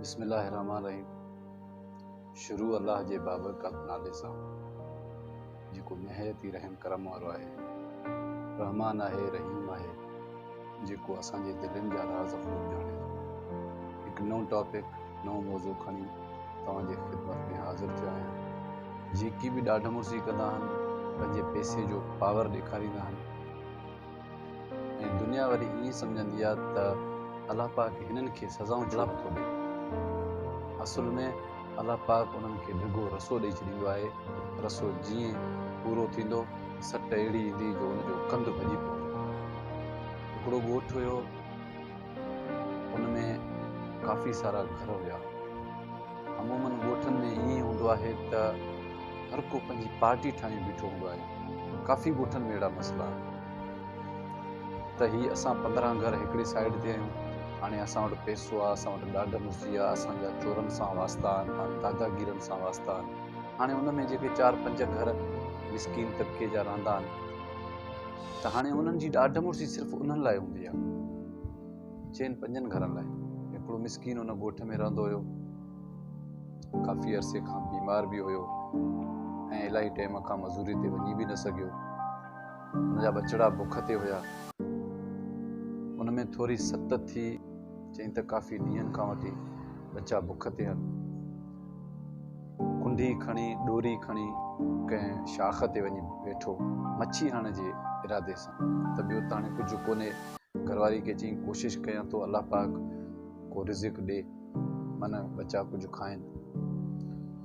بسم الله الرحمٰن الرحيم شروع الله جي بابرڪت نالي سان جيڪو نهايت ئي رحم ڪرم وارو آهي رحمان آهي رحيم آهي جيڪو اسان جي دلين جا راز خوب ڄاڻي ٿو هڪ نئون ٽاپڪ نئون موضوع کڻي توهان جي خدمت ۾ حاضر ٿيو آهيان جيڪي به ڏاڍ مڙسي ڪندا آهن پنهنجي پيسي جو پاور ڏيکاريندا آهن ۽ دنيا وري ائين سمجهندي آ ته الله پاڪ هنن کي سزائون ڇو نه ٿو ڏئي. اصل ۾ الله پاڪ انهن کي ڊگهو رسو ڏئي ڇڏيندو آهي. رسو جيئن پورو ٿيندو سٽ اهڙي ايندي جو ان جو ڪنڌ ڀڄي پوندو. هڪڙو ڳوٺ هيو. ان ۾ ڪافي سارا گهر هيا. عمومن ڳوٺن ۾ ائين هوندو آهي ته هر ڪو پنهنجي پارٽي ٺاهي بيٺو هوندو آهي. ڪافي ڳوٺن ۾ اهڙا مسئلا آهن ته هي اسان پندرهن گهر هڪڙي سائيڊ تي آهيون، هاڻي اسان وٽ پئسو آهي، اسان وٽ ڏاڍ مشجي آهي، اسان جا چورن سان واسطا آهن، هاڻ داداگيرن سان واسطا آهن. هاڻي ان ۾ جيڪي چار پنج گهر مسڪين طبقي جا رهندا آهن. ته هاڻي انهن جي ڏاڍ مڙسي صرف انهن لاء هوندي آهي. چئن پنجن گهرن لاء. هڪڙو مسڪين ان ڳوٺ ۾ رهندو هيو. ڪافي عرصي کان بيمار به هيو ۽ الاهي ٽيم کان مزوري تي وڃي به نه سگهيو. ان جا ٻچڙا بک تي هيا. ان ۾ ٿوري ست ٿي چئين ته ڪافي ڏينهن کان وٺي ٻچا بک تي هن. ڪنڍي کڻي ڏوري کڻي ڪنهن شاخ تي وڃي ويٺو مڇي هڻڻ جي ارادي سان ته ٻيو ته هاڻي ڪجهه ڪونهي گهرواري کي چيائين ڪوشش ڪيان ٿو الله پاڪ ڪو رزق ڏي من ٻچا ڪجهه کائن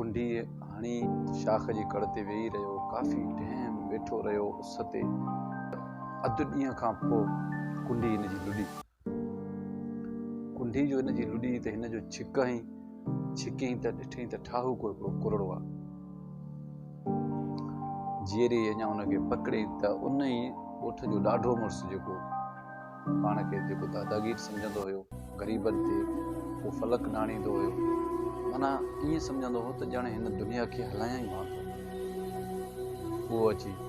ڪنڍي هڻي شاخ جي ڪڙ تي ويهي رهيو ڪافي ٽيم ويٺو رهيو اس تي اڌ ڏينهن کان پوء ڪنڍي هن جي لڏي ڪنڍي جو هن جي لڏي ته هن جو ڇڪ هنئين، ڇڪيائين ته ڏٺئين ته ٺاهو ڪو هڪڙو ڪرڙو آ. جيئري اڃا ان کي پڪڙيائين ته ان ئي ڳوٺ جو ڏاڍو مڙس جيڪو پاڻ کي جيڪو داداگير سمجهندو هيو، غريبن تي ڪو فلڪ ڊاڻيندو هيو، معنيٰ ائين سمجهندو هو ته ڄڻ هن دنيا کي هلايائين مان ٿو، اهو اچي.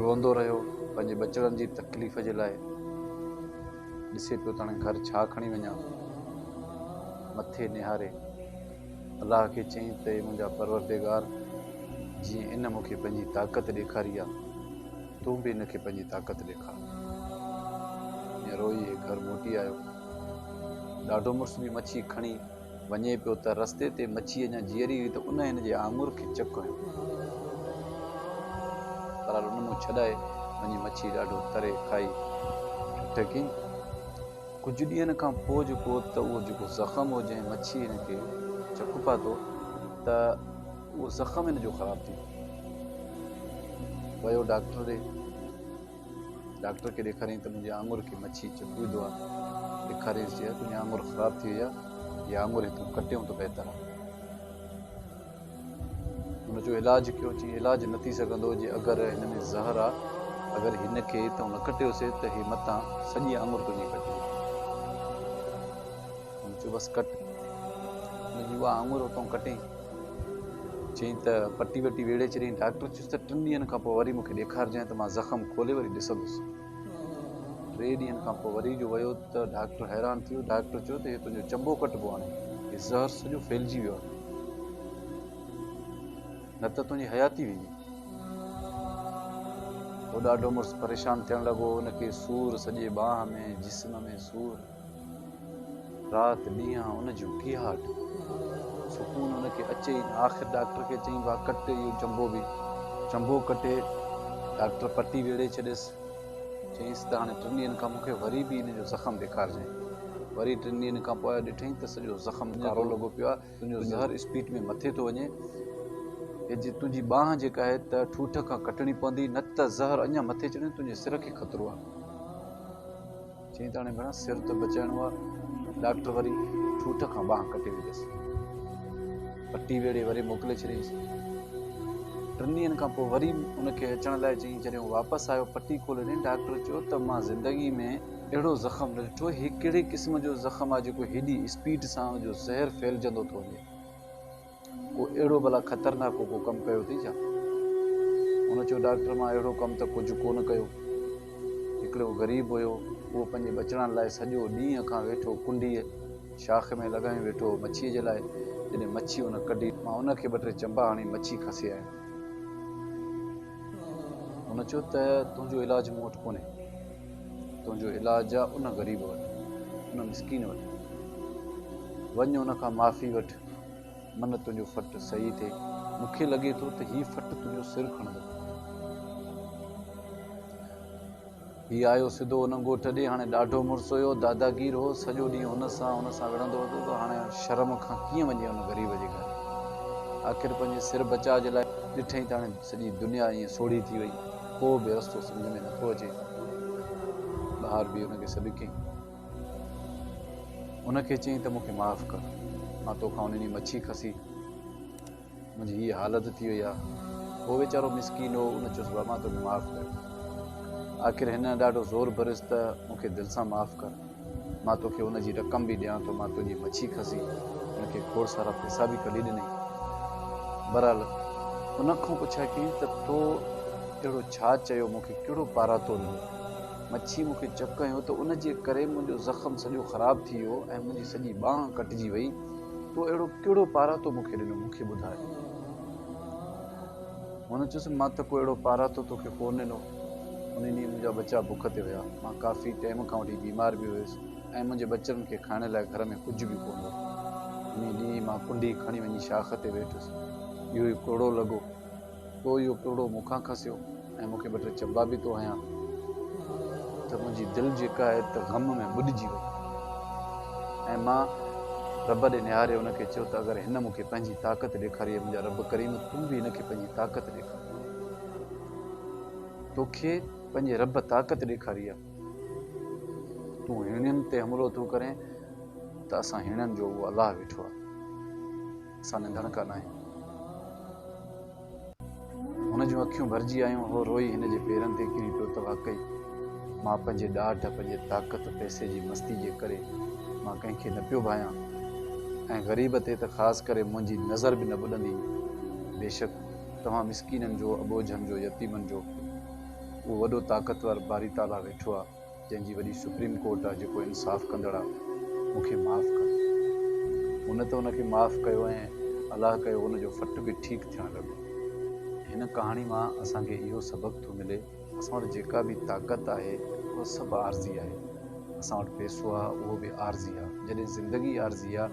روئندو رهيو پنهنجي ٻچڙن جي تڪليف جي لاء ڏسي پيو ته هاڻي گهر ڇا کڻي وڃان مٿي نهاري الله کي چيائين ته اي منهنجا پروردگار جيئن ان مون کي پنهنجي طاقت ڏيکاري آهي تون به ان کي پنهنجي طاقت ڏيکار روئي گهر موٽي آيو ڏاڍو مڙس به مڇي کڻي وڃي پيو ته رستي تي مڇي اڃا جيئري هئي ته ان هن جي آڱر کي چڪ هنيو. بهرحال ان منهن ڇڏائي وڃي مڇي ڏاڍو تري کائي ٺٽي ڪئي. ڪجهه ڏينهن کان پوء جيڪو ته اهو جيڪو زخم هو جنهن مڇي هن کي چڪ پاتو ته اهو زخم هن جو خراب ٿي ويو. ويو ڊاڪٽر ڏي. ڊاڪٽر کي ڏيکاريائين ته منهنجي آڱر کي مڇي چڪ وڌو آهي. ڏيکاريائينس چيائين تنهنجي آڱر خراب ٿي وئي آهي، اها آڱر هي تون ڪٽيون ته بهتر آهي. هن جو علاج ڪيو، چيائين علاج نه ٿي سگهندو جي اگر هن ۾ زهر آهي، اگر هن کي تون نه ڪٽيوسي ته هي متان سڄي آڱر تنهنجي ڪٽجي ويندي. هن چيو بس ڪٽ منهنجي اها آڱر تون ڪٽين. چيائين ته پٽي وٽي ويڙهي ڇڏيائين، ڊاڪٽر ته ٽن ڏينهن کان پوء وري مون کي ڏيکارجانء ته مان زخم کولي وري ڏسندس. ٽي ڏينهن کان پوء وري جو ويو ته ڊاڪٽر حيران ٿي ويو. ڊاڪٽر چيو ته هي تنهنجو چنبو ڪٽبو هاڻي. هي زهر سڄو ڦهلجي ويو آهي. نه ته تنهنجي حياتي ويندي. هو ڏاڍو مڙس پريشان ٿيڻ لڳو. هن کي سور سڄي ٻانهن ۾، جسم ۾ سور. رات ڏينهن ان جون ڪيهاٽ سڪون ان کي اچي ئي نه. آخر ڊاڪٽر کي چيائين واهه ڪٽ اهو چنبو به. چنبو ڪٽي ڊاڪٽر پٽي ويڙهي ڇڏيس. چيائينس ته هاڻي ٽن ڏينهن کان مون کي وري به ان جو زخم ڏيکارجئين. وري ٽن ڏينهن کان پوء ڏٺئين ته سڄو زخم ڪارو لڳو پيو آهي. تنهنجو زهر اسپيڊ ۾ مٿي ٿو وڃي. هي جي تنهنجي ٻانهن جيڪا آهي ته ٺوٺ کان ڪٽڻي پوندي نه ته زهر اڃا مٿي چڙهيو تنهنجي سر کي خطرو آهي. چيائين ته هاڻي ڀيڻا سر ته بچائڻو آ. ڊاڪٽر وري ٺوٺ کان ٻانهن ڪٽي وڌيس. پٽي ويڙهي وري موڪلي ڇڏيائينس. ٽن ڏينهن کان پوء وري ان کي اچڻ لاء چيائين. جڏهن هو واپس آيو پٽي کولي ڏني. ڊاڪٽر چيو ته مان زندگي ۾ اهڙو زخم نه ڏٺو. هي ڪهڙي قسم جو زخم آ جيڪو هيڏي اسپيڊ سان ان جو زهر ڦهلجندو ٿو وڃي. ڪو اهڙو ڀلا خطرناڪو ڪو ڪم ڪيو اٿئي ڇا؟ هن چيو، ڊاڪٽر مان اهڙو ڪم ته ڪجهه ڪو نه ڪيو. هڪڙو غريب هيو، اهو پنهنجي ٻچڙن لاء سڄو ڏينهن کان ويٺو ڪنڊيء، شاخ، ۾ لڳايون ويٺو هو مڇيء جي لاء، جڏهن مڇي ان ڪڍي، مان ان کي ٻه ٽي چنبا هڻي مڇي کسي آيم. هن چيو ته تنهنجو علاج مون وٽ ڪونهي، تنهنجو علاج آ ان غريب وٽ، ان مسڪين وٽ. وڃ ان کان معافي وٺ. من تنهنجو فٽ صحيح ٿئي، مون کي لڳي ٿو ته هي فٽ تنهنجو سر کڻندو. هي آيو سڌو ان ڳوٺ ڏي، هاڻي ڏاڍو مڙس هيو، داداگير هو، سڄو ڏينهن هن سان هن سان وڙهندو هوندو هو، هاڻي شرم کان ڪيئن وڃي ان غريب جي گهر؟ آخر پنهنجي سر بچاء جي لاء ڏٺئي ته هاڻي سڄي دنيا ائين سوڙهي ٿي وئي، ڪو به رستو سمجهه ۾ نٿو اچي. ٻهار به ان کي سڏ ڪيائين. ان کي چيائين ته مون کي معاف ڪر، مان تو کان ان ڏينهن مڇي کسي منهنجي هيء حالت ٿي وئي آهي. هو ويچارو مسڪين هو، ان چيس بابا مان تو کي معاف ڪيو. آخر هن ڏاڍو زور ڀريس ته مون کي دل سان معاف ڪر، مان تو کي ان جي رقم به ڏيان ٿو، مان تنهنجي مڇي کسي ان کي کوڙ سارا پئسا به ڪڍي ڏنئي. بهرحال ان کان پڇيائين ته تو اهڙو ڇا چيو مون کي ڪهڙو پاراتو ڏنو؟ مڇي مون کي چڪ هنيو ته ان جي ڪري منهنجو زخم سڄو خراب ٿي ويو ۽ منهنجي سڄي ٻانهن ڪٽجي وئي. تو اهڙو ڪهڙو پاراتو مون کي ڏنو؟ مون کي ٻڌاء. هن چيس، مان ته ڪو اهڙو پاراتو تو کي ڪونه ڏنو. ان ڏينهن منهنجا ٻچا بک تي هيا. مان ڪافي ٽيم کان وٺي بيمار به هيس ۽ منهنجي ٻچڙن کي کائڻ لاء گهر ۾ ڪجهه به ڪونه هو. انهيء ڏينهن مان ڪنڊي کڻي وڃي شاخ تي ويٺس. اهو ئي ڪوڙو لڳو. تو اهو پروڙو مون کان کسيو ۽ مون کي ٻه ٽي چنبا به تو هنيا ته منهنجي دل جيڪا آهي ته غم ۾ ٻڏجي وئي ۽ مان رب ڏي نهاري ان کي چيو ته اگر هن مون کي پنهنجي طاقت ڏيکاري اي منهنجا رب ڪريم تون به هن کي پنهنجي طاقت ڏيکار توکي پنهنجي رب طاقت ڏيکاري آهي تون هيڻين تي حملو ٿو ڪرين ته اسان هيڻن جو اهو الله ويٺو آهي سان ننڊڙ ڪا ناهي. هن جون اکيون ڀرجي آيون. هو روئي هن جي پيرن تي ڪري پيو ته واقعي مان پنهنجي ڏاڍ، پنهنجي طاقت، پئسي جي مستي جي ڪري مان ڪنهن کي نه پيو ڀانيان ۽ غريب تي ته خاص ڪري منهنجي نظر به نه ٻڏندي هئي. بيشڪ توهان مسڪينن جو، اٻوجهن جو، يتيمن جو اهو وڏو طاقتور باري تعاليٰ ويٺو آهي. جنهن جي وڏي سپريم ڪورٽ آ جيڪو انصاف ڪندڙ آ مون کي معاف ڪر هن ته ان کي معاف ڪيو ۽ الله ڪيو ان جو فٽ به ٺيڪ ٿيڻ لڳو هن ڪهاڻي مان اسان کي اهو سبق ٿو ملي اسان وٽ جيڪا به طاقت آهي اهو سڀ عارضي آهي اسان وٽ پيسو آ اهو به عارضي آ جڏهن زندگي عارضي آ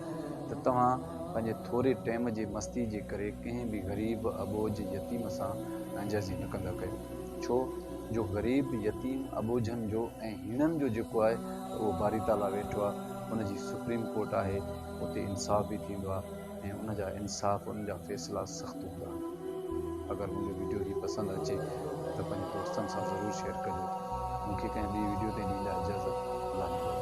ته توهان پنهنجي ٿوري ٽيم جي مستي جي ڪري ڪنهن به غريب اٻوجهه يتيم سان ناجائزي نه ڪندا ڪيو ڇو جو غريب، يتيم، اٻوجهن جو ۽ هيڻن جو جيڪو آهي ته اهو باري تعاليٰ ويٺو آهي، ان جي سپريم ڪورٽ آهي، اتي انصاف به ٿيندو آهي ۽ ان جا انصاف، ان جا فيصلا سخت هوندا آهن. اگر منهنجو ويڊيو هي پسند اچي ته پنهنجي دوستن سان ضرور شيئر ڪجو. مون کي ڪنهن ٻي ويڊيو تي ڏيندا اجازت. الله نگهبان.